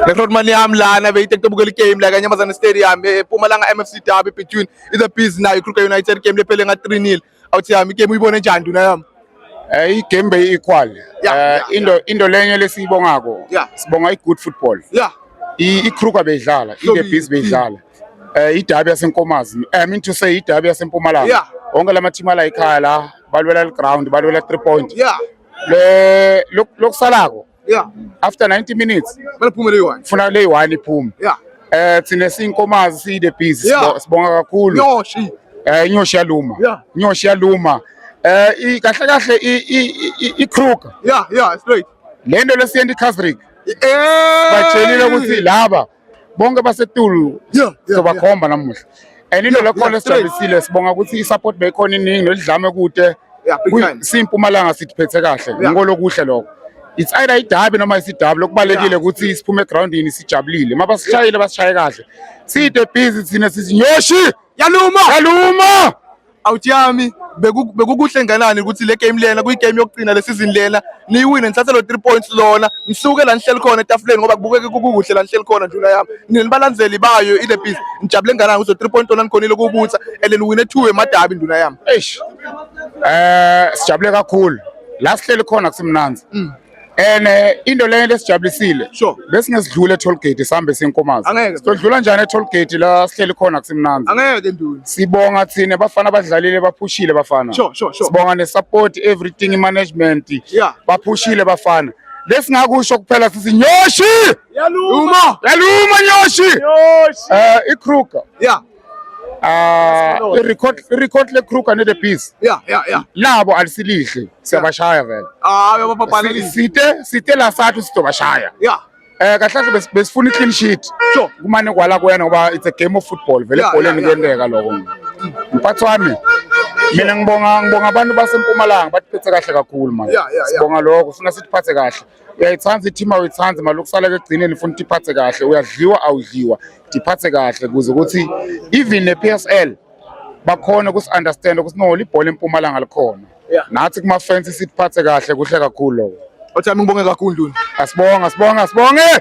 Record man yami lana beyitektobukela igame la kanyamazane stadium epumalanga eh, mfc derby between the bees nayo ikruger united game lephele nga 3 nil awuthi yami igame uyibone njani nduna yami Eh igame beyi equal. Eh into into lenye lesiyibongako. Sibonga i good football. Yeah. I Kruger beyidlala, i the bees beyidlala. Eh idabi yasenkomazi. I mean to say idabi yasempumalanga. Yeah. Wonke lama team ala ekhaya la balwela le ground, balwela 3 point. Yeah. Le lokusalako. Yeah. After 90 minutes. Baliphume le one. Funa le one iphume. Yeah. Eh thina sinkomazi si the bees. Yeah. Sibonga kakhulu. Yoshi. Eh inyoshi yaluma. Yeah. Inyoshi yaluma. Eh kahle kahle i i Kruger. Yeah, yeah, straight. Lento lesiyendi Kazrick. Eh. Batshelile ukuthi laba bonke basetulu sobakhomba namuhla and into lekhona esijabisile sibonga ukuthi i-support beyikhona iningi nolidlame kude simpumalanga sithiphethe kahle ngiko lokuhle lokho it's either idabi noma isidabi lokubalekile ukuthi siphume egroundini sijabulile uma basishayile basishaye kahle side busy thina sizinyoshi yaluma yaluma out yami bekukuhle nganani ukuthi le game lena kuyigame yokugcina le season lena niyiwine nithathe lo three points lona ngisuke la nihleli khona etafuleni ngoba kubukeke kukuhle la nihleli khona njula yami nina nibalandzeli bayo ile biz ngijabule nganani ukuthi three points lona nikhonile kubutha and niwine two emadabi nduna yami eish eh sijabule kakhulu la sihleli khona kusemnanzi mm. and eh, into leyo into esijabulisile Sure. besingesidlula etoll gate sihambe sinkomazi Angeke. sidlula njani etoll gate la sihleli khona kusimnandi angeke ke nduna sibonga thina bafana badlalile baphushile bafana Sure, sure, sure. sibonga ne-support everything management Yeah. baphushile bafana lesingakusho kuphela sithi nyoshi yaluma yaluma nyoshi yoshi um ikruger ya Ah, i-record i-record le-Kruger ne-Bees Yeah, yeah, yeah. labo alisilihle siyabashaya vele Ah, uyababhalelisa. site site la sathu sidobashaya Yeah. eh kahle kahle bes- besifuna i-clean sheet Sure. kumane kwala kuyena ngoba it's a game of football vele Yeah, ebholeni yeah, yeah. kuyenteka lokho mphathi wami mina ngibonga ngibonga abantu basempumalanga batiphethe kahle kakhulu manje Yeah, yeah, yeah. sibonga lokho sifuna sitiphathe kahle uyayithanda i-team awuyithandi mali ukusala-ke ekugcineni ufuna ukuthi iphathe kahle uyadliwa awudliwa ndiphathe kahle ukuze ukuthi even ne-p s l bakhona ukusi-understanda ukuthi no libhola empumalanga likhona nathi kuma-fence siphathe kahle kuhle kakhulu loko othami ngibonge kakhulu nduna asibonga sibonga sibonge